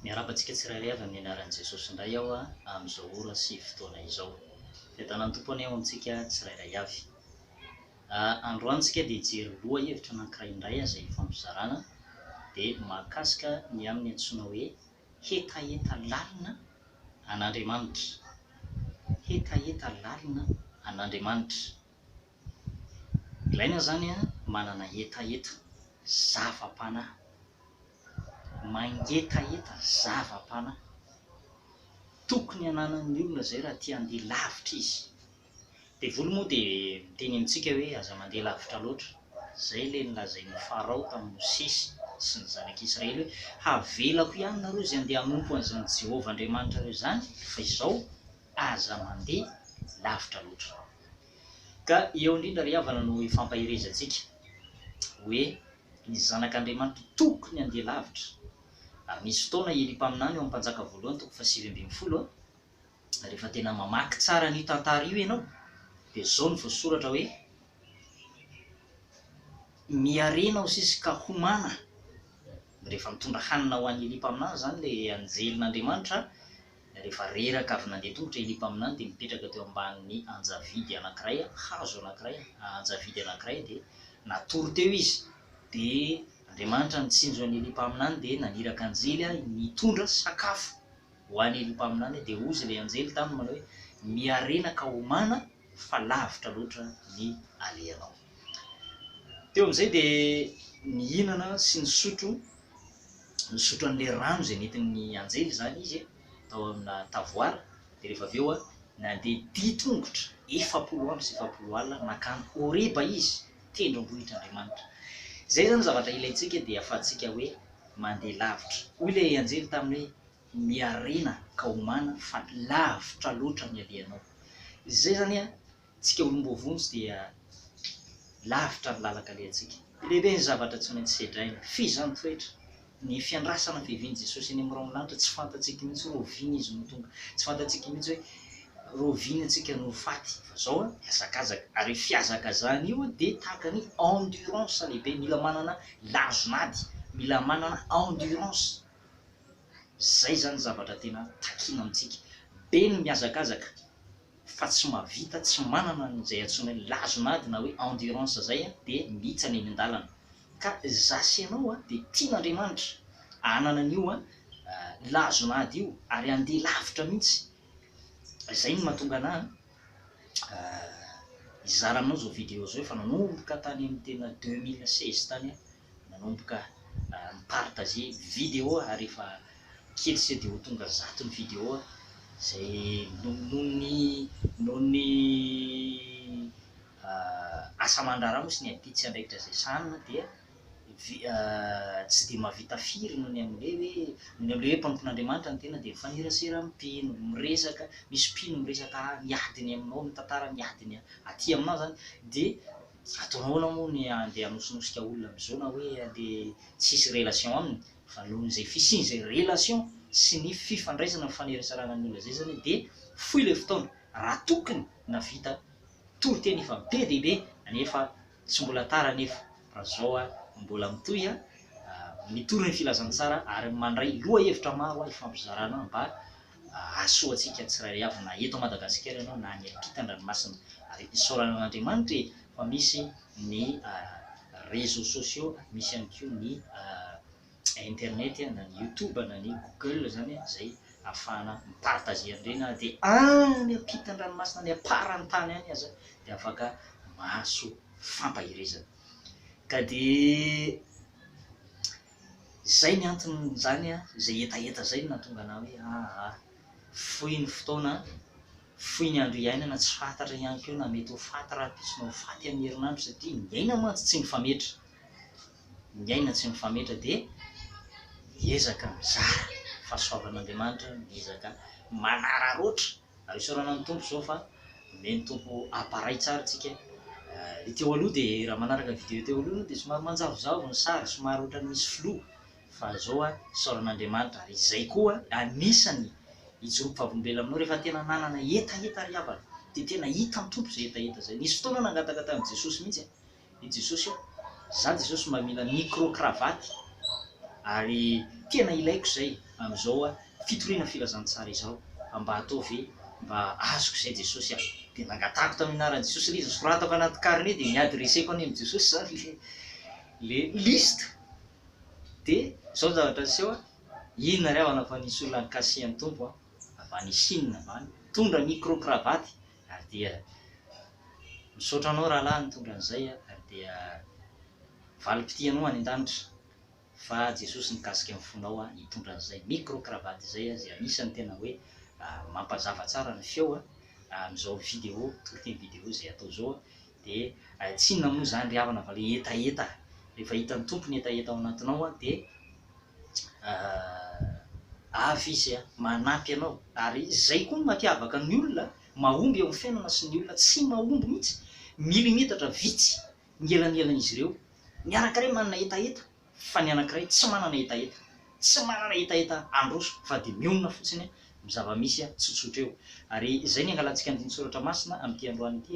Miarahaba antsika tsirairay avy amin'ny anaran'i Jesosy indray aho amin'izao ora sy fotoana izao. Fiadanan'ny Tompo anie ho antsika tsirairay avy. Androany isika dia hijery lohahevitra anankiray indray aza ifampizarana dia mahakasika ny amin'ny antsoina hoe hetaheta lalina an'Andriamanitra. Hetaheta lalina an'Andriamanitra. Ilaina izany manana hetaheta, zava-panahy. mangetaheta zava-panahy. Tokony hananan'ny olona izay raha tia handeha lavitra izy. Devoly moa dia miteny amintsika hoe aza mandeha lavitra loatra. Izay ilay nolazain'i Farao tamin'i Mosesy sy ny zanak'Israely hoe, Havelako ihany nareo izay handeha hanompo an'izany Jehovah Andriamanitrareo izany, fa izao, aza mandeha lavitra loatra. Ka eo indrindra ry havana no ifampaherezantsika hoe. Ny Zanak'Andriamanitra tokony handeha lavitra. Ary nisy fotoana i Elia mpaminany ao amin'ny Mpanjaka voalohany toko fahasivy ambin'ny folo, rehefa tena mamaky tsara an'io tantara io ianao dia izao no voasoratra hoe, Miharena ho sisa ka homana. Rehefa mitondra hanina ho an'i Elia mpaminany izany ilay anjelin'Andriamanitra Rehefa reraka avy nandeha tongotra ilay mpaminany dia mipetraka teo ambanin'ny anjavidy anankiray, hazo anankiray, anjavidy anankiray dia natory teo izy. Dia Andriamanitra nitsinjo an'ilay mpaminany dia naniraka anjely nitondra sakafo ho an'ilay mpaminany dia hozy ilay anjely taminy manao hoe, Miharena ka homana, fa lavitra loatra ny alehanao. Teo amin'izay dia nihinana sy nisotro, nisotro an'ilay rano izay nentin'ny anjely izany izy tao amina tavoara, dia rehefa avy eo nandeha ditongotra efapolo andro sy efapolo alina nankany Horeba izy, tendrombohitr' Andriamanitra. Izay izany zavatra ilaintsika dia ahafahantsika hoe mandeha lavitra. Hoy ilay anjely taminy hoe, Miarina ka homana fa lavitra loatra ny alehanao. Izay izany an, tsika olom-boavonjy dia lavitra ny lalan-kalehantsika. Lehibe ny zavatra tsy maintsy sedraina. F'izy izany toetra, ny fiandrasana fiavian'i Jesosy eny amin'ny rahon'ny lanitra, tsy fantatsika mihitsy hoe oviana Izy no tonga. Tsy fantatsika mihitsy hoe roviana tsika no ho faty. Fa izao an, mihazakazaka. Ary io fihazakazana io dia tahaka ny endurance lehibe. Mila manana lazon'ady. Mila manana endurance. Izay zany zavatra tena takiana amintsika. Be ny mihazakazaka fa tsy mahavita, tsy manana an'izay antsoina hoe lazon'ady na hoe endurance izay dia mihitsana eny an-dalana. Ka za sy ianao dia tian'Andriamanitra hanana an'io lazon'ady io ary handeha lavitra mihitsy. Izay no mahatonga anah hizara aminao izao video izao efa nanomboka tany amin'ny tena deux mille seize tany aho. Nanomboka mi-partage video aho ary efa kely sao dia ho tonga zato ny video izay nohon'ny nohon'ny asa aman-draharaha moa sy ny ampitso sy andraikitra izay sahanina dia tsy dia mahavita firy noho ny amin'ilay hoe noho ny amin'ilay hoe mpanompon'Andriamanitra ny tena dia mifanerasera mpino, miresaka, misy mpino miresaka miady ny aminao mitantara ny adiny aty aminao izany dia Atoroana moa ny handeha hanosnosika olona amin'izao na hoe handeha tsy hisy relation aminy fa noho izay fisian'izay relation sy ny fifandraisana mifanerasarana ny olona izay zany dia fohy ilay fotoana raha tokony navita toriteny efa be dia be anefa tsy mbola tara anefa raha zao a mbola mitohy a mitory ny filazantsara ary mandray lohahevitra maro a ifampizarana mba Ahasoa antsika tsirairay avy na eto Madagasikara ianao na any ampitan-dranomasina ary isaorana an'Andriamanitra e fa misy ny réseaux sociaux, misy ihany koa ny internet na ny youtube na ny google izany izay ahafahana mi-partager an'ireny ary dia any ampitan-dranomasina any am-paran'ny tany any aza dia afaka mahasoa fampaherezana ka dia Izay ny anton'izany an! Izay hetaheta izay no nahatonga anah hoe aa! Fohy ny fotoana an! Fohy ny andro iainana, tsy fantatra ihany koa na mety ho faty rahampitso na ho faty amin'ny herinandro satria ny aina mantsy tsy mifametra. Ny aina tsy mifametra dia miezaka mizara fahasoavan'Andriamanitra, miezaka manararaotra ary isaorana ny Tompo zao fa omen'ny Tompo appareil tsara tsika ny teo aloha dia raha manaraka ny vidéo teo aloha dia somary manjavozavo ny sary somary ohatrany misy flou fa zao a isaorana Andriamanitra ary izay koa anisany ijoroako vavolombelona aminao rehefa tena nanana hetaheta ry havana dia tena hitan'ny Tompo izay hetaheta izay nisy fotoana nangataka tamin'i Jesosy mihitsy i Jesosy io. Za Jesosy mba mila micro cravate ary tena ilaiko izay amin'izao fitoriana filazantsara izao fa mba atao ve mba azoko izay Jesosy a! Dia nangatahako tamin'ny anaran'i Jesosy ilay izy nosoratako anaty carnet dia ni-adresseko any amin'i Jesosy izany ilay ilay liste dia izao ny zavatra niseho a! Inona ry havana fa nisy olona nikasihan'ny Tompo a! avy any Chine avy any, nitondra micro cravate RDR. Misaotra anao rahalahy nitondra an'izay RDR. Valim-pitia anao any an-danitra fa Jesosy nikasika ny fonao hitondra an'izay micro cravate izay izay anisany tena hoe mampazava tsara ny feo amin'izao video toriteny video izay atao izao dia ay tsinona moa izany ry havana fa ilay hetaheta rehefa hitan'ny Tompo ny hetaheta ao anatinao dia avy Izy manampy anao ary izay koa no mampiavaka ny olona mahomby eo amin'ny fiainana sy ny olona tsy mahomby mihitsy milimetatra vitsy ny elanelan'izy ireo miaraka re manana hetaheta fa ny anankiray tsy manana hetaheta, tsy manana hetaheta handroso fa dia mionona fotsiny amin'ny zava-misy tsotsotra eo. Ary izay no iangalantsika andinin-tsoratra masina amin'ity androany ity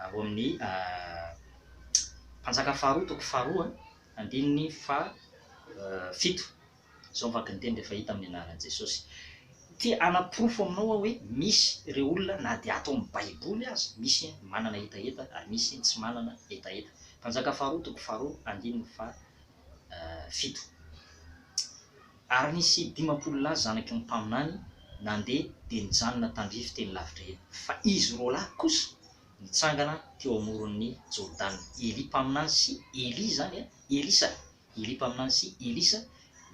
ao amin'ny Mpanjaka faharoa toko faharoa andininy fahafito. Izao ny vaky ny teny rehefa hita amin'ny anaran'i Jesosy. Te hanaporofo aminao aho hoe misy ireo olona na dia ato amin'ny Baiboly aza, misy ny manana hetaheta ary misy ny tsy manana hetaheta. Mpanjaka faharoa toko faharoa andininy fahafito. Ary nisy dimampolo lahy zanaky ny mpaminany nandeha dia nijanona tandrify teny lavitra eny. Fa izy roalahy kosa nitsangana teo amoron'ny Jordana, Elia mpaminany sy Elia izany, Elisa, Elia mpaminany sy Elisa,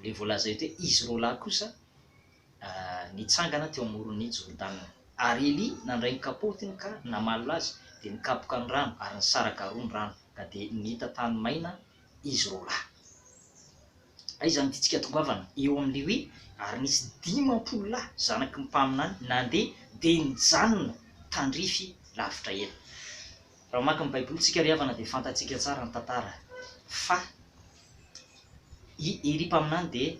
ilay voalaza eto hoe izy roalahy kosa, nitsangana teo amoron'ny Jordana. Ary Elia nandray ny kapotiny ka namalona azy, dia nikapoka ny rano, ary nisaraka roa ny rano, ka dia nihita tany maina izy roa lahy. Aiza no tiantsika tongavana eo amin'ilay hoe, Ary nisy dimampolo lahy, zanaky ny mpaminany, nandeha, dia nijanona tandrify lavitra ela. Raha mamaky ny Baibolintsika ry havana, dia fantatsika tsara ny tantara fa i Elia mpaminany dia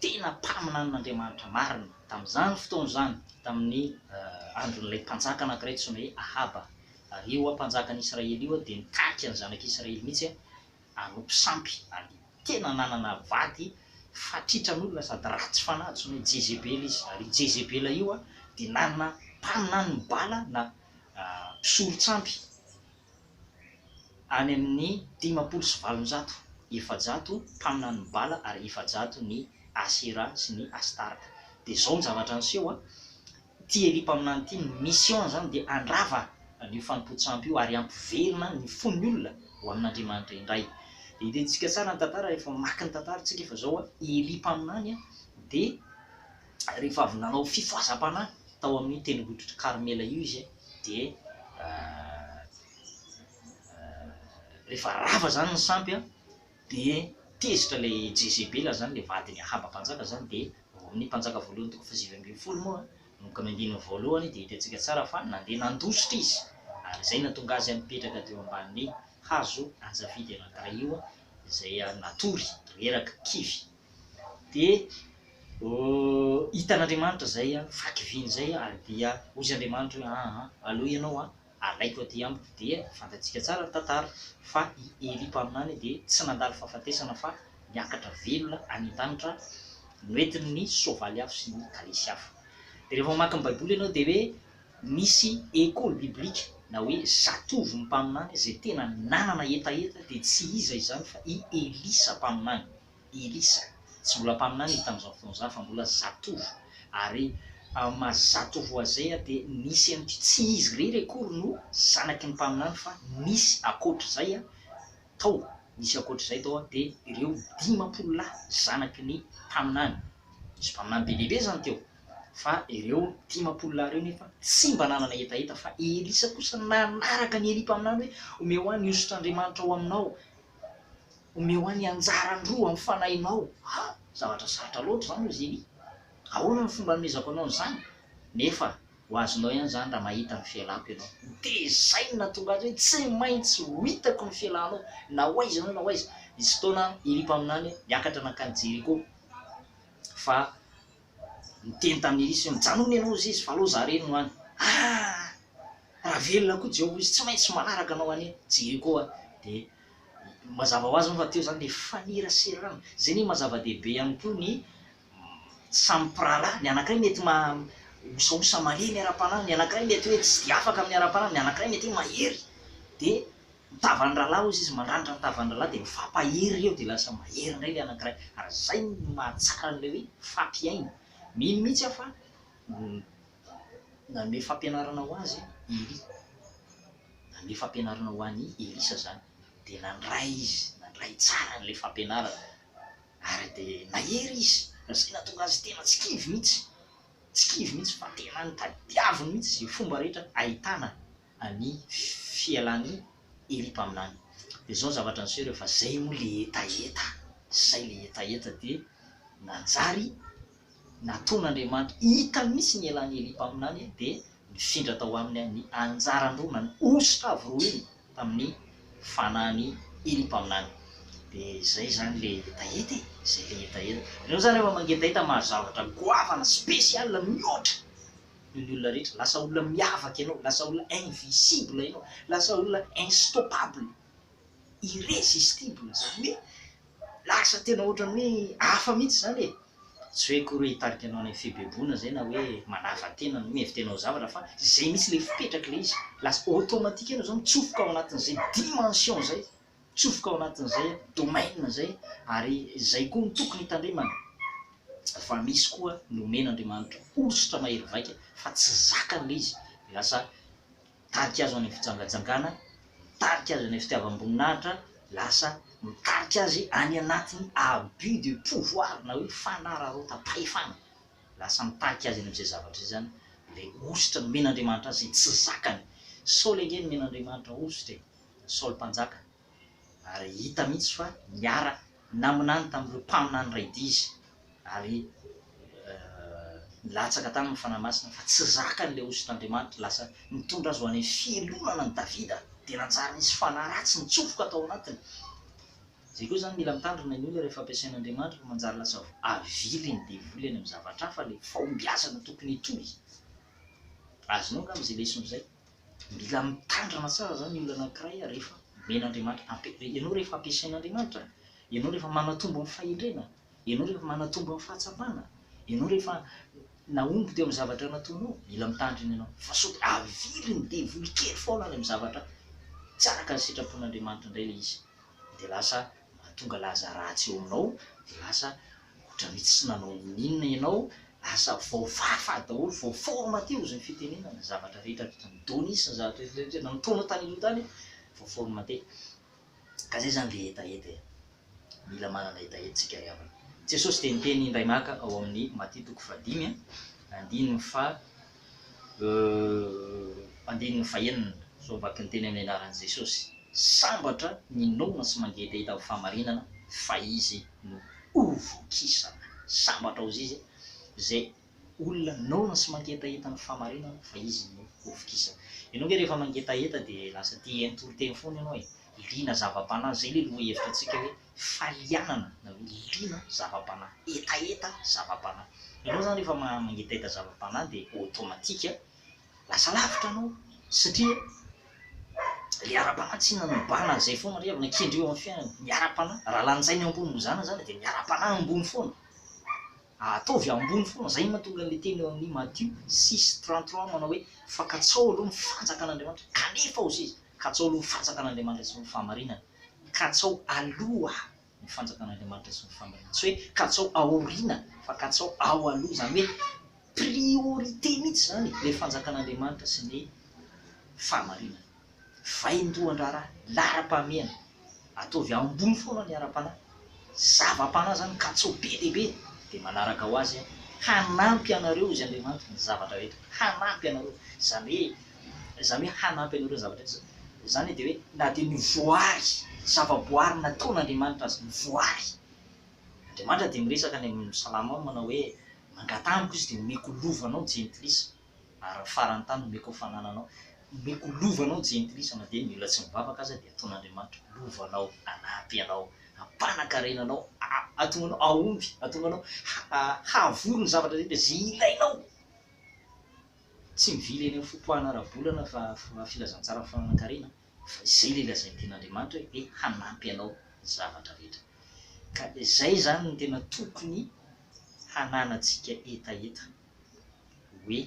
tena mpaminanin'Andriamanitra marina tamin'izany fotoana izany, tamin'ny andron'ilay mpanjaka anankiray antsoina hoe Ahaba. Ary io mpanjakan'Israely io dia nitarika ny zanak'Israely mihitsy hanompo sampy, ary tena nanana vady fatritran'olona sady ratsy fanahy antsoina hoe Jezebela izy. Ary io Jezebela io dia nanana mpaminanin'i Bala na mpisoron-tsampy. any amin' ny dimampolo sy valonjato, efajato mpaminany ny Bala ary efajato ny Asera sy ny Astarta. Dia izao ny zavatra niseho an, ity Elia mpaminany ity, ny mission-ny izany dia handrava an' io fanompoan-tsampy io ary hampiverina ny fon' ny olona ho amin' Andriamanitra indray. Dia hitantsika tsara ny tantara rehefa mamaky ny tantara tsika fa izao an, Elia mpaminany dia. rehefa avy nanao fifohazam-panahy tao amin'io tendrombohitr'i Karmela io izy dia rehefa rava zany ny sampy a dia tezitra le Jezebela zany le vadin'i Ahaba mpanjaka zany dia ao amin'ny Mpanjaka voalohany toko fahasivy ambin'ny folo moa no kamy andininy voalohany dia hitantsika tsara fa nandeha nandositra izy ary izay natonga azy mipetraka teo ambanin'ny hazo anjafidy anankiray io izay natory reraka kivy dia hitan'Andriamanitra izay vaky vy izay ary dia hoy izy Andriamanitra hoe aa aleo ianao a alaiko aty amiko dia fantatsika tsara ny tantara fa i Elia mpaminany dia tsy nandalo fahafatesana fa niakatra velona any an-danitra noentin'ny soavaly hafa sy ny kalesy hafa dia rehefa mamaky ny baiboly ianao dia hoe misy école biblique na hoe zatovo mpaminany izay tena nanana hetaheta dia tsy iza izany fa i Elisa mpaminany Elisa, tsy mbola mpaminany izy tamin'izany fotoana izany fa mbola zatovo, ary amin'ny maha zatovo azy izay dia nisy an'i, tsy izy irery akory no zanaky ny mpaminany fa nisy ankoatr'izay tao, nisy ankoatr'izay tao dia ireo dimampolo lahy zanaky ny mpaminany, nisy mpaminany be dia be izany teo, fa ireo dimampolo lahy ireo nefa tsy mba nanana hetaheta fa i Elisa kosa nanaraka an'i Elia mpaminany hoe, omeo ahy ny hosotr'Andriamanitra ao aminao. Omeo ahy ny anjarany roa amin'ny fanahinao. Ha! zavatra sarotra loatra izany hoy Zeny. Ahoana no fomba hanomezako anao an'izany? Nefa ho azonao ihany izany raha mahita ny fialako ianao. Dia izay no nahatonga azy hoe, Tsy maintsy ho hitako ny fialanao, na ho aiza ianao na ho aiza. Nisy fotoana i mpaminany niakatra nankany Jeriko, fa niteny tamin'i Elisy hoe, Mijanona ianao hoy izy, fa aleo izaho irery no any. Ah! Raha velona koa Jehovah hoy izy, Tsy maintsy manaraka anao any Jeriko aho. Dia Mazava ho azy moa fa teo izany ny faneraserana. Izay anie maha-zava-dehibe ihany koa ny samy mpirahalahy. Ny anankiray mety mahaosaosa malemy ara-panahy, ny anankiray mety hoe tsy dia afaka amin'ny ara-panahy, ny anankiray mety hoe mahery. Dia ny tavan'ny rahalahy hozy izy, mandranitra ny tavan'ny rahalahy dia mifampahery eo dia lasa mahery indray ilay anankiray. Ary izay no mahatsara an'ilay hoe fampiaina. Mino mihitsy aho fa Nanome fampianarana ho azy i Elia. Nanome fampianarana ho an'i Elisa izany. Dia nandray izy, nandray tsara an'ilay fampianarana. Ary dia nahery izy, ary izay nahatonga azy tena tsy kivy mihitsy. Tsy kivy mihitsy fa tena nitadiaviny mihitsy izay fomba rehetra ahitana an'i, fialan'i Elia mpaminany. Dia izao ny zavatra niseho rehefa izay moa ilay hetaheta, izay ilay hetaheta dia nanjary. Natoan' Andriamanitra hita mihitsy ny elan' Elia mpaminany dia nifindra tao aminy ny anjaran-droa na ny hosotra avy roa iny tamin' ny fanahin' i Elia mpaminany. Dia izay izany ilay hetaheta e! Izay ilay hetaheta. Ianareo izany rehefa mangetaheta mahazo zavatra goavana, spécial, mihoatra noho ny olona rehetra, lasa olona miavaka ianao, lasa olona invisible ianao, lasa olona instoppable, irrésistible, izany hoe, Lasa tena ohatran'ny hoe hafa mihitsy izany e! Tsy hoe akory hoe hitarika anao any amin'ny fibeebona izay na hoe manava tena no mihevitra hanao zavatra fa izay mihitsy ilay fipetraka ilay izy. Lasa automatique ianao izao mitsofoka ao anatin'izay dimension izay, mitsofoka ao anatin'izay domaine izay ary izay koa no tokony hitandremana fa misy koa nomen'Andriamanitra hosotra mahery vaika fa tsy zakany ilay izy dia lasa Mitarika azy ho any amin'ny fijangajangana, mitarika azy any amin'ny fitiavam-boninahitra, lasa mitarika azy any anatin'ny abus de pouvoir na hoe fanararaotam-pahefana. Lasa mitarika azy any amin'izay zavatra izay izany ilay hosotra nomen'Andriamanitra azy izay tsy zakany. Saoly ange nomen'Andriamanitra hosotra e! Saoly mpanjaka. ary hita mihitsy fa niara naminany tamin'ireo mpaminany iray dia izy ary nilatsaka taminy ny Fanahy Masina fa tsy zakany ilay hosotra Andriamanitra lasa nitondra azy ho any fialonana ny Davida dia nanjary nisy fanahy ratsy nitsofoka tao anatiny izay koa izany mila mitandrina ny olona rehefa ampiasain' Andriamanitra fa manjary lasa avily ny devoly any amin'ny zavatra hafa ilay fahombiazana tokony hitohy azy nao angamba izay lesona izay Mila mitandrina tsara izany ny olona anankiray rehefa omen'Andriamanitra, ianao rehefa ampiasain'Andriamanitra, ianao rehefa manatombo ny fahendrena, ianao rehefa manatombo ny fahatsapana, ianao rehefa nahomby teo amin'ny zavatra nataonao, mila mitandrina ianao. Fa sao dia avilin'ny devoly kely foana any amin'ny zavatra tsy araka ny sitrapon'Andriamanitra indray ilay izy, dia lasa mahatonga laza ratsy eo aminao de lasa ohatran'ny hoe tsy nanao n'inona ianao, lasa voafafa daholo, voaforona teo izay fitenenana, ny zavatra rehetra vita ny données sy ny zavatra rehetra nanompoanao tany aloha tany voaforona teny, ka zay zany le hetaheta e, mila manana hetaheta tsika ry havana. Jesosy dia niteny indray maka ao amin'ny Matia toko fahadimy andininy faha. Euhh andininy fahenina zao vaky ny teny amin'ny anaran'i Jesosy, sambatra ny noana sy mangetaheta amin'ny fahamarinana fa izy no ho vokisana. Sambatra ozy izy zay olona noana sy mangetaheta ny fahamarinana fa izy no ho vokisana. Ianao nge rehefa mangetaheta dia lasa te hiheno toriteny foana ianao e, liana zava-panahy, zay le lohahevitra antsika hoe falianana na hoe liana zava-panahy, hetaheta zava-panahy. Ianao izany rehefa mangetaheta zava-panahy dia automatique lasa lavitra anao satria ilay ara-panahy tsy inona mibahana an'izay foana re avana kendreo amin'ny fiainana, ny ara-panahy raha lanjaina ambony mizana izany dia ny ara-panahy ambony foana, ataovy ambony foana, izay no mahatonga an'ilay teny ao amin'ny Matio six trente trois manao hoe, fankatsaho aloha ny fanjakan'Andriamanitra kanefa ho seza. Katsao aloha ny fanjakan'Andriamanitra sy ny fahamarinany. Katsao aloha ny fanjakan'Andriamanitra sy ny fahamarinany. Tsy hoe katsao aoriana fa katsao ao aloha. Izany hoe priorité mihitsy izany ilay fanjakan'Andriamanitra sy ny fahamarinany. Vaindohan-draharaha, laharam-pahamehana. Ataovy ambony foana ny ara-panahy. Zava-panahy izany kacau be dia be. Dia manaraka ho azy hanampy anareo izy Andriamanitra ny zavatra rehetra. Hanampy anareo. Izany hoe, izany hoe hanampy anareo ny zavatra rehetra. Izany dia hoe na dia ny voary, zava-boary nataon' Andriamanitra aza, ny voary. Andriamanitra dia miresaka any amin'ny salamo manao hoe, mangataha amiko izy dia omeko lova anao jentilisa. ary ny faran'ny tany omeko ho fanananao, omeko lova anao jentilisa na dia ny olona tsy mivavaka aza dia ataon'Andriamanitra lova anao, hanampy anao, hampanakarena anao, hahatonga anao hahomby, hahatonga anao hahavory ny zavatra rehetra izay ilainao, tsy mivily eny amin'ny fotoana ara-bolana fa filazantsara ny fananankarena fa izay ilay lazain'ny Tenin'Andriamanitra hoe dia hanampy anao ny zavatra rehetra, ka izay izany no tena tokony hananantsika hetaheta. hoe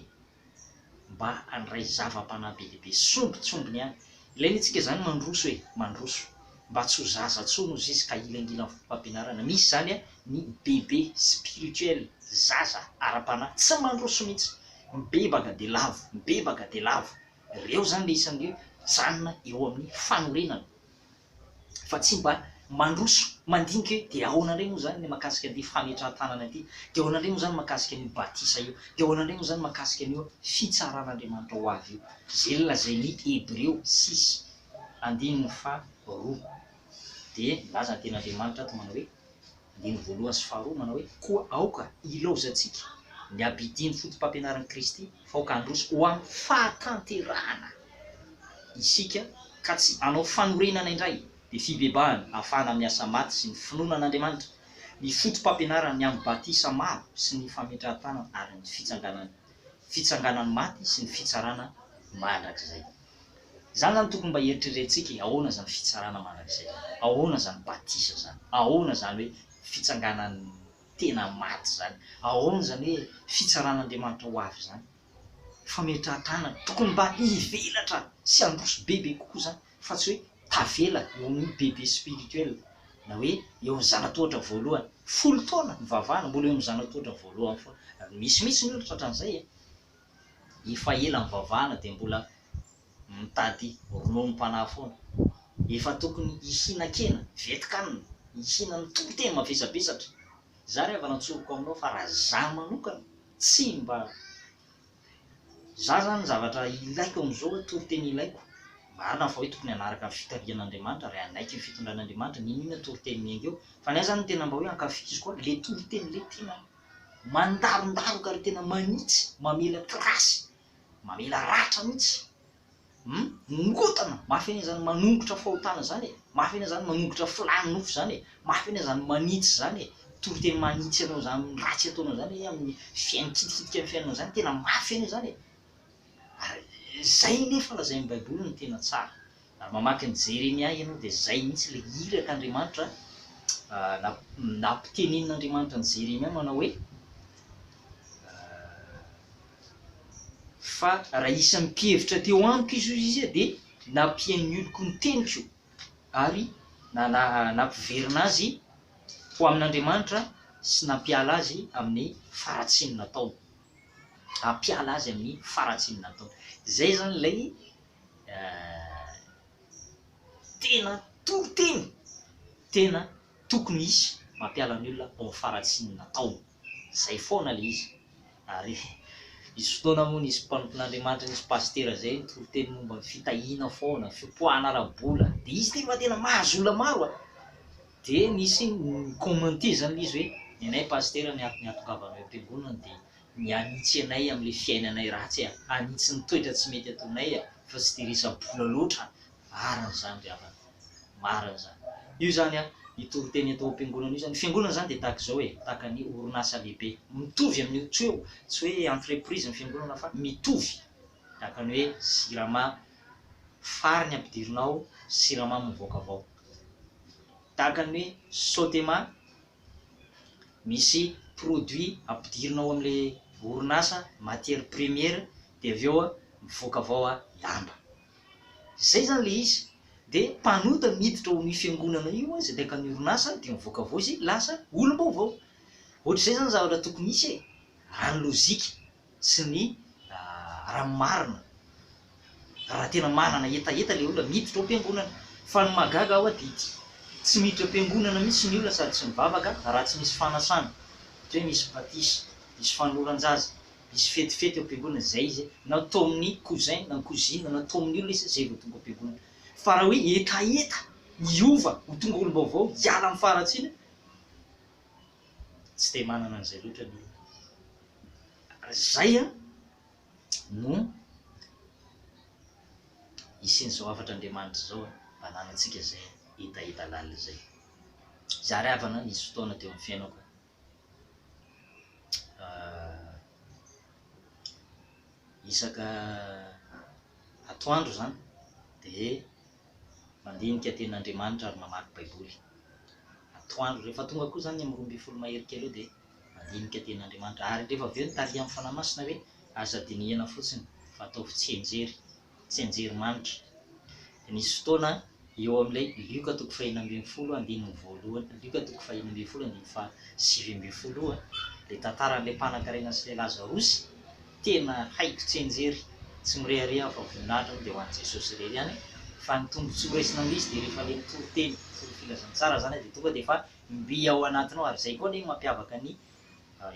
mba handray zava-panahy be dia be, sombintsombiny ihany. Ilain'itsika izany mandroso e! mandroso mba tsy ho zaza intsony hozy izy ka hilangilan'ny fomba-pampianarana misy izany ny bebe spirituel, zaza ara-panahy tsy mandroso mihitsy, mibebaka dia lavo, mibebaka dia lavo, ireo izany ilay isan'ireo mijanona eo amin'ny fanorenana. fa tsy mba mandroso mandinika hoe dia ahoana indray moa izany ny mahakasika an'ity fametrahan-tanana ity, dia ahoana indray moa izany mahakasika an'io batisa io, dia ahoana indray moa izany mahakasika an'io fitsaran'Andriamanitra ho avy io. Izay nolazain'ny Hebreo sis, andininy faha roa, dia nilaza ny Tenin'Andriamanitra ato manao hoe. Andininy voalohany sy faharoa manao hoe, Koa aoka hilaozantsika ny abidin'ny fotopampianaran'i Kristy, fa aoka handroso ho amin'ny fahatanterahana isika, ka tsy hanao fanorenana indray, dia fibebahana hafahana amin'ny asa maty sy ny finoana an'Andriamanitra, ny fotopampianarany amin'ny batisa maro sy ny fametrahan-tanana ary ny fitsanganany, fitsanganan'ny maty sy ny fitsarana mandrakizay. Zany zany tokony mba eritrerentsika e, ahoana zany fitsarana mandrakizay zany, ahoana zany batisa zany, ahoana zany hoe fitsanganan'ny tena maty zany, ahoana zany hoe fitsaran'Andriamanitra ho avy zany, fametrahan-tanana, tokony mba hivelatra sy handroso bebe kokoa zany fa tsy hoe tavela ho ny bebe spirituel na hoe eo amin'ny zana-tohatra voalohany, folo taona nivavahana mbola eo amin'ny zana-tohatra voalohany foana, misy mihitsy ny olona tratran'izay e. efa ela mivavahana dia mbola mitady rononom-panahy foana. Efa tokony hihinan-kena, vetin-kanina, hihinan'ny toriteny mavesabesatra. Izaho re avy nantsoriko aminao fa raha izaho manokana tsy mba, izaho izany ny zavatra ilaiko amin'izao hoe toriteny ilaiko. Marina fa hoe tokony hanaraka ny fitarihan'Andriamanitra ary hanaiky ny fitondran'Andriamanitra, ninoina toriteny miainga eo. Fa ny ahy izany ny tena mba hoe ankafiziko ahy, ilay toriteny ilay tena. mandarondaroka ary tena manitsy mamela trace mamela ratra mihitsy hum mikotana mafy anie zany manongotra fahotana zany e mafy anie zany manongotra filany nofo zany e mafy anie zany manitsy zany e tory teny manitsy anao zany ratsy ataonao zany hoe amin'ny fiain kitikitika ny fiainanao zany tena mafy anie zany e ary zay nefa lazain'ny baiboly no tena tsara Ary mamaky ny Jeremia ianao dia izay mihitsy ilay iraka Andriamanitra nampitenenin' Andriamanitra an'i Jeremia manao hoe fa raha isan'ny mpihevitra teo amiko izy hoy izy dia nampihain'ny oloko ny teniko ary nampiverina azy ho amin' Andriamanitra sy nampiala azy amin'ny faharatsiany nataony. Hampiala azy amin'ny faharatsiany nataony. Izay izany ilay. tena toro teny tena tokony hisy mampiala ny olona ao am faratsian natao zay foana le izy ary nisy fotoana moa nisy mpanompo nandriamanitra nisy pasitera zay nitory teny momba ny fitahiana foana fipoahana ara bola de izy ty fa tena mahazo olona maro a de nisy ny commenter zany le izy hoe nenay pasitera ny atongavanao am piangonana de ny hanitsy anay amin'ilay fiainanay ratsy e, hanitsy ny toetra tsy mety ataonay e, fa tsy dia resa-bola loatra, marina izany ry havana, marina izany. Io izany an, io toriteny atao am-piangonana io izany, ny fiangonana izany dia tahaka izao e, tahaka ny orinasa lehibe, mitovy amin'io tsy hoe, tsy hoe entreprise ny fiangonana fa mitovy, tahaka ny hoe jirama, farany ampidirina ao, siramamy mivoaka avy ao, tahaka ny hoe sotema, misy produit ampidirina ao amin'ilay orinasa matière première dia avy eo mivoaka avy ao lamba, izay izany ilay izy dia mpanota miditra ao amin'io fiangonana io izay miaraka amin'ny orinasa dia mivoaka avy ao izy lasa olom-baovao, ohatr'izay izany zavatra tokony hisy e! raha ny lojika sy ny ranomarina raha tena manana hetaheta ilay olona miditra ao am-piangonana. Fa ny mahagaga ahy dia ity, tsy miditra am-piangonana mihitsy ny olona sady tsy mivavaka raha tsy misy fanasana, ohatra hoe misy batisa, misy fanoloran-jaza, misy fetifety ao am-piangonana, izay izy na tao amin'ny cousin na cousine na tao amin'ny olona izy izay vao tonga ao am-piangonana. Fa raha hoe hetaheta, hiova, ho tonga olom-baovao, hiala amin'ny faharatsiana, tsy dia manana an'izay loatra ny olona. Izay no hisian'izao hafatr'Andriamanitra izao hananantsika izay hetaheta lalina izay. Zary havana nisy fotoana teo amin'ny fiainako. Uh, isaka atoandro izany dia mandinika tenin' Andriamanitra ary mamaky Baiboly atoandro ireny. Rehefa tonga koa izany ny amin'ny roa ambin'ny folo mahery kely eo dia mandinika tenin' Andriamanitra. Ary rehefa avy eo ny tarihan'ny Fanahy Masina hoe aza dinihana fotsiny fa ataovy tsianjery, tsianjery manitra. Dia nisy fotoana eo amin'ilay Lioka toko faheno ambin'ny folo andininy voalohany, Lioka toko faheno ambin'ny folo andininy fahasivy ambin'ny folo io, ilay tantaran'ilay mpanankarena sy ilay Lazarosy, tena haiko tsy enjery, tsy mirehareha aho fa voninahitra moa dia ho an'i Jesosy irery ihany fa ny tombotsoa horesina amin'izy dia rehefa ilay mitory teny, mitory filazantsara izany dia tonga dia efa mby ao anatinao ary izay koa anie no mampiavaka ny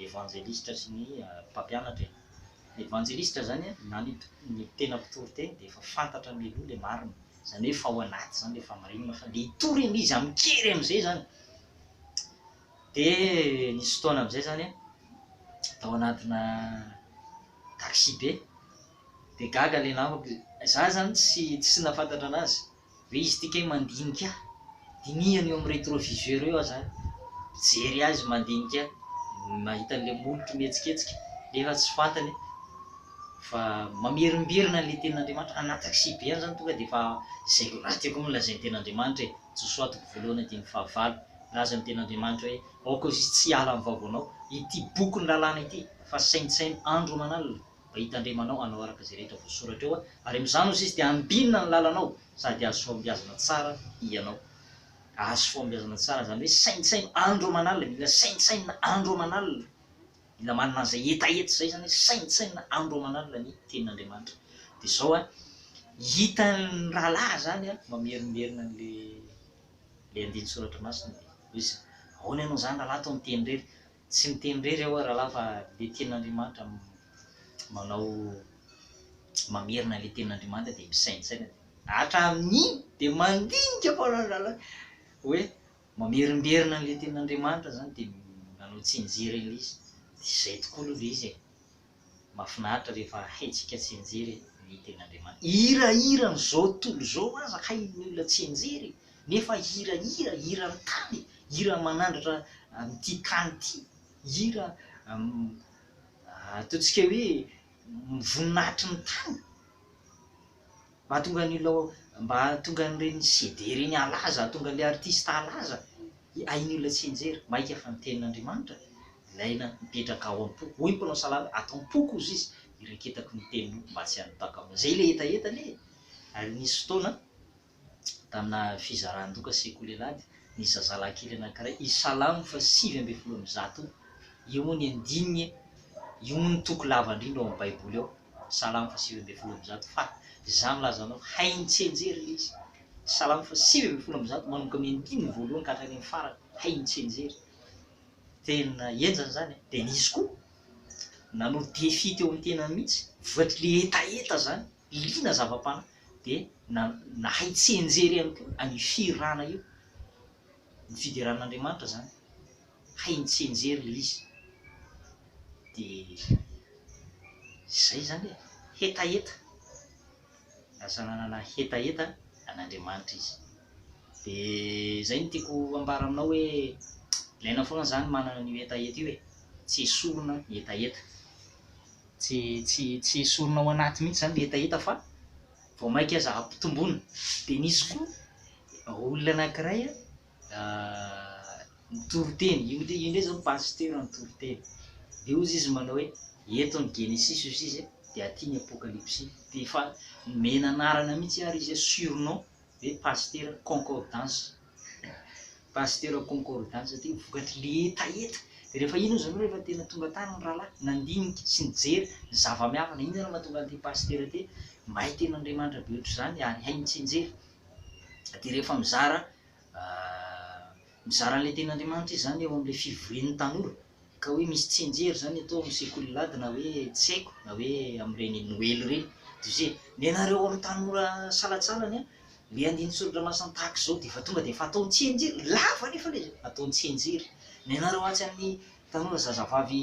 evanjelisitra sy ny mpampianatra e! Ny evanjelisitra izany na ny tena mpitory teny dia efa fantatra mialoha ilay marina, izany hoe efa ao anaty izany ilay famarinana fa ilay hitory anie izy amin-kery amin'izay izany, Dia nisy fotoana amin'izay izany aho tao anatina taxi-be, dia gaga ilay namako, izaho izany tsy tsy nahafantatra anazy, hoe izy ity kay mandinika ahy, dinihany eo amin'ny rétroviseur eo aho izany, mijery azy mandinika ahy, mahita an'ilay molotro mihetsiketsika nefa tsy fantany fa mamerimberina an'ilay tenin'Andriamanitra, anaty taxi-be any izany tonga dia efa izay raha tiako amin'ny lazain'ny tenin'Andriamanitra e! Josoa toko voalohany andininy fahavalo, milaza ny Tenin'Andriamanitra hoe, Aoka izy tsy hiala amin'ny vahoanao, ity boky ny lalàna ity, fa saintsaino andro aman'alina, mba hitandremanao hanao araka izay rehetra voasoratra eo, ary amin'izany ozy izy dia handinina ny lalanao, sady hahazo fahombiazana tsara hianao. Hahazo fahombiazana tsara, izany hoe saintsaino andro aman'alina, mila saintsainina andro aman'alina. Mila manana an'izay hetaheta izay izany hoe saintsainina andro aman'alina ny tenin'Andriamanitra. Dia izao an, hitan'ny rahalahy izany an, mamerimberina an'ilay ilay andinin-tsoratra masina hoe izay. Ahoana ianao izany rahalahy toa miteny irery? Tsy miteny irery aho rahalahy fa ilay tenin'Andriamanitra manao mamerina an'ilay tenin'Andriamanitra dia misaintsaina dia hatramin'iny dia mandinika foana ny rahalahy hoe Mamerimberina an'ilay tenin'Andriamanitra zany de manao tsinjera ilay izy de izay tokoa aloha ilay izy e! Mafinaritra rehefa haintsika tsinjery ny tenin'Andriamanitra. Hira hiran'izao tontolo izao aza hain'ny olona tsinjery e! Nefa hira hira, hiran'ny tany e! Hira manandratra an'ity tany ity, hira ataontsika hoe voninahitry ny tany. Mahatonga ny olona mba hahatonga an'ireny CD ireny halaza, hahatonga ilay artista halaza. Hain'ny olona tsy hianjera. Maika fa ny Tenin'Andriamanitra ilaina, mipetraka ao am-po. Hoy ny mpanao salamo hoe, Ato am-poko, hozy Izy, iraketako ny Teninao mba tsy hanipaka aho. Izay ilay hetahetany e! Ary nisy fotoana, tamina fizaran-doka Sekoly Alahady, nisy zazalahy kely anankiray, i Salamo fahasivy ambin'ny folo amby zato, io moa ny andininy e! Io moa no toko lava indrindra ao amin'ny Baiboly ao. Salamo fa sivy ambin'ny folo amby zato fa Izaho milaza anao, hainy tsy enjery ilay izy. Salamo fa sivy ambin'ny folo amby zato, manomboka amin'ny andininy voalohany ka hatrany amin'ny farany, hainy tsy enjery. Tena henjana izany e! Dia nisy koa nanao défi teo amin'ny tenany mihitsy, voatry ilay hetaheta izany, liana zava-panahy, dia na, nahay tsy enjery ihany koa an'io fihirana io. Ny fiderana an'Andriamanitra izany. hay nitsenjery le izy de zay zany e! hetaheta, lasa nanana hetaheta an'Andriamanitra izy, de zay no tiako ambara aminao hoe ilaina foana za ny manana an'io hetaheta io e! tsy esorina ny hetaheta, tsy tsy tsy esorina ao anaty mihitsy zany le hetaheta fa vao maika aza ampitomboina, de nisy koa olona anakiray a. ny toriteny, io io indray zao ny pasteur no toriteny, de ozy izy manao hoe eto ny genesisy ozy izy de aty ny apokalypsy, de efa nomena anarana mihitsy ary izy hoe surnom hoe pasteur concordance pasteur concordance satria vokatry le hetaheta, de refa iny ozy anao refa tena tonga tany ny rahalahy nandinika sy nijery ny zava-miavana, iny zany mahatonga an'ity pasteur ty mahay tenin'Andriamanitra be ohatr'izany ary hay mitsinjery, dia rehefa mizara mizara an'ilay tenin'Andriamanitra izy izany eo amin'ilay fivorian'ny tanora, ka hoe misy tsinjery izany atao amin'ny sekoly lady na hoe tsy haiko na hoe amin'ireny noely ireny, dia izay, nenareo amin'ny tanora salatsalany ilay andininy soradramasina tahaka izao dia efa tonga dia efa atao tsianjery, lava anefa ilay izy, atao tsianjery, nenareo atsy amin'ny tanora zazavavy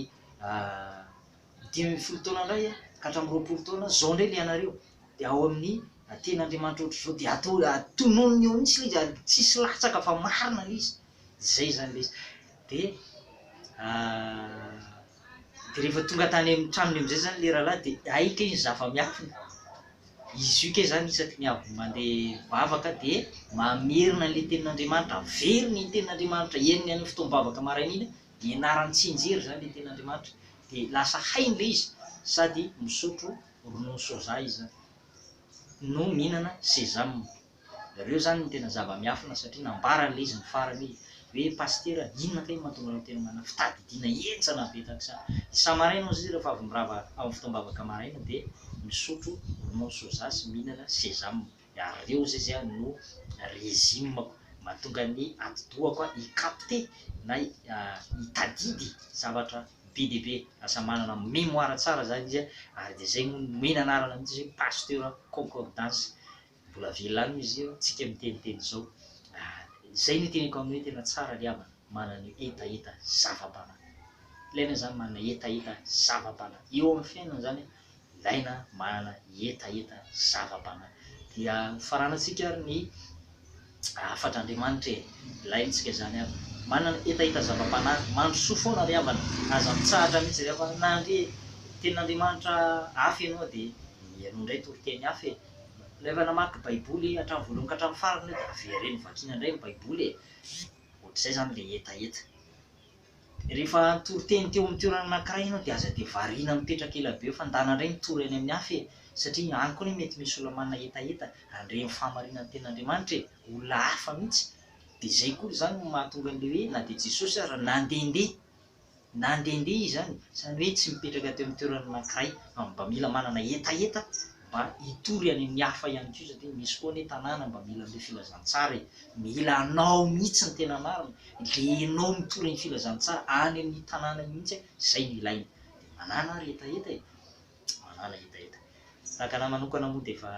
dimy ambin'ny folo taona indray a, ka hatramin'ny roapolo taona, zao indray le anareo, de ao amin'ny teny Andriamanitra ohatra zao, de atao tononina eo mihitsy le izy ary tsisy latsaka fa marina le izy, zay zany le izy, de de rehefa tonga tany amin'ny tranony amizay zany le rahalahy de hay kay ny zava-miafina, izy io kay zany isaky ny avy mande mivavaka de mamerina anle tenin'Andriamanitra, averiny ny tenin'Andriamanitra henony any amin'ny fotoam-bavaka maraina iny ianarany tsy hianjera izany le ten'Andriamanitra dia lasa hainy le izy sady misotro ronono soja izy zany no mihinana sesame reo zany no tena zava-miafina satria nambarany le izy ny farany hoe hoe pasitera inona kay mahatonga anao tena manana fitadidiana henjana be tahak'izany isa-maraina hozy izy rehefa avy mirava amin'ny fotoam-bavaka maraina dia misotro ronono soja sy mihinana sesame Nareo zay zany no régime mahatonga ny atidohako hi capter na hitadidy zavatra be dia be. Lasa manana mémoire tsara zany izy ary dia zay no nomena anarana mihitsy hoe pasteur concordance. Mbola velona any moa izy io tsika miteniteny izao. Zay no iteneniko aminao hoe tena tsara ry havana manana hetaheta zava-bana. Ilaina zany manana hetaheta zava-bana eo amin'ny fiainana zany ilaina manana hetaheta zava-panahy. Dia hofaranantsika ary ny hafatr'Andriamanitra e! Ilaintsika izany havana. Manana hetaheta zava-panahy, mandrosoa foana ry havana, aza mitsahatra mihitsy ry havana, na handre tenin'Andriamanitra hafa ianao dia ianao indray toriteny hafa e! Ry havana mamaky baiboly hatramin'ny voalohany ka hatramin'ny farany io dia avereno vakiana indray ny baiboly e! Ohatr'izay izany ilay hetaheta. Rehefa toriteny teo amin'ny toerana anankiray ianao dia aza dia variana mipetraka ela be eo fa ndana indray mitory any amin'ny hafa e! Satria any koa anie mety misy olona manana hetaheta handre ny fahamarinan' ny tenin'Andriamanitra e! Olona hafa mihitsy! Dia izay koa izany no mahatonga an'ilay hoe na dia Jesosy aza nandehandeha! Nandehandeha Izy izany, izany hoe tsy mipetraka teo amin'ny toerana anankiray fa mba mila manana hetaheta mba hitory any amin'ny hafa ihany koa satria misy koa anie tanàna mba mila an'ilay filazantsara e! mila anao mihitsy ny tena marina, ilay enao mitory ny filazantsara any amin'ny tanàna mihitsy a! izay no ilaina, dia manàna ary hetaheta e! manàna hetaheta, tahaka anah manokana moa dia efa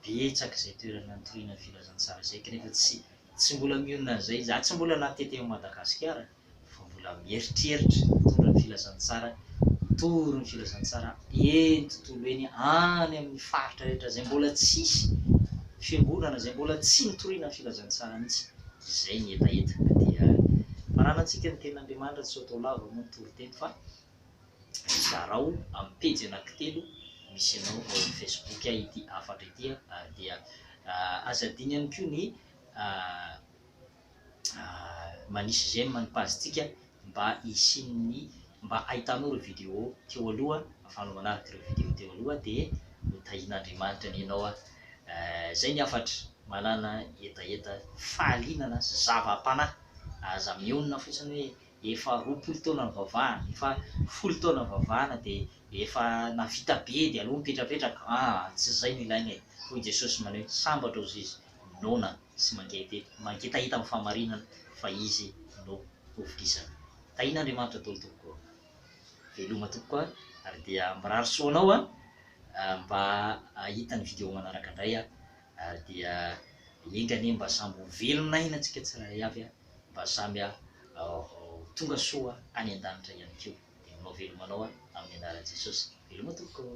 betsaka izay toerana nitoriana ny filazantsara izay kanefa tsy tsy mbola mionona an'izay, za tsy mbola natety ao Madagasikara. fa mbola mieritreritra hitondra ny filazantsara, hitory ny filazantsara eny tontolo eny, any amin'ny faritra rehetra izay mbola tsisy fiangonana, izay mbola tsy nitoriana ny filazantsara mihitsy, izay ny hetaheta ka dia fananantsika ny tenin'Andriamanitra, tsy ho atao lava moa ny toriteny fa zarao amin'ny pejy anankitelo misy anao ao amin'ny Facebook ity hafatra ity ary dia aza adino ihany koa ny manisy j'aime ny page tsika mba hisian'ny mba hahitanao ireo video teo aloha afahanao manaraka ireo video teo aloha dia ho tahian'Andriamanitra anie ianao a zay ny hafatra manana hetaheta fahalinana sy zava-panahy aza mionona fotsiny hoe efa roapolo taona nivavahana efa folo taona nivavahana dia efa navita be dia aleo mipetrapetraka aa tsy zay no ilaina e hoy Jesosy maneho sambatra ozizy noana sy mangety mangetahita amin'ny fahamarinana fa izy no ho vorisana. Tahiana Andriamanitra daholo tompoko ô. Veloma tompoko a ary dia mirary soa anao a mba hahita ny video manaraka indray a ary dia enga anie mba samy ho velona aina tsika tsirairay avy a mba samy ho tonga soa any an-danitra ihany koa. Dia manao veloma anao a amin'ny anaran'i Jesosy. Veloma tompoko ô.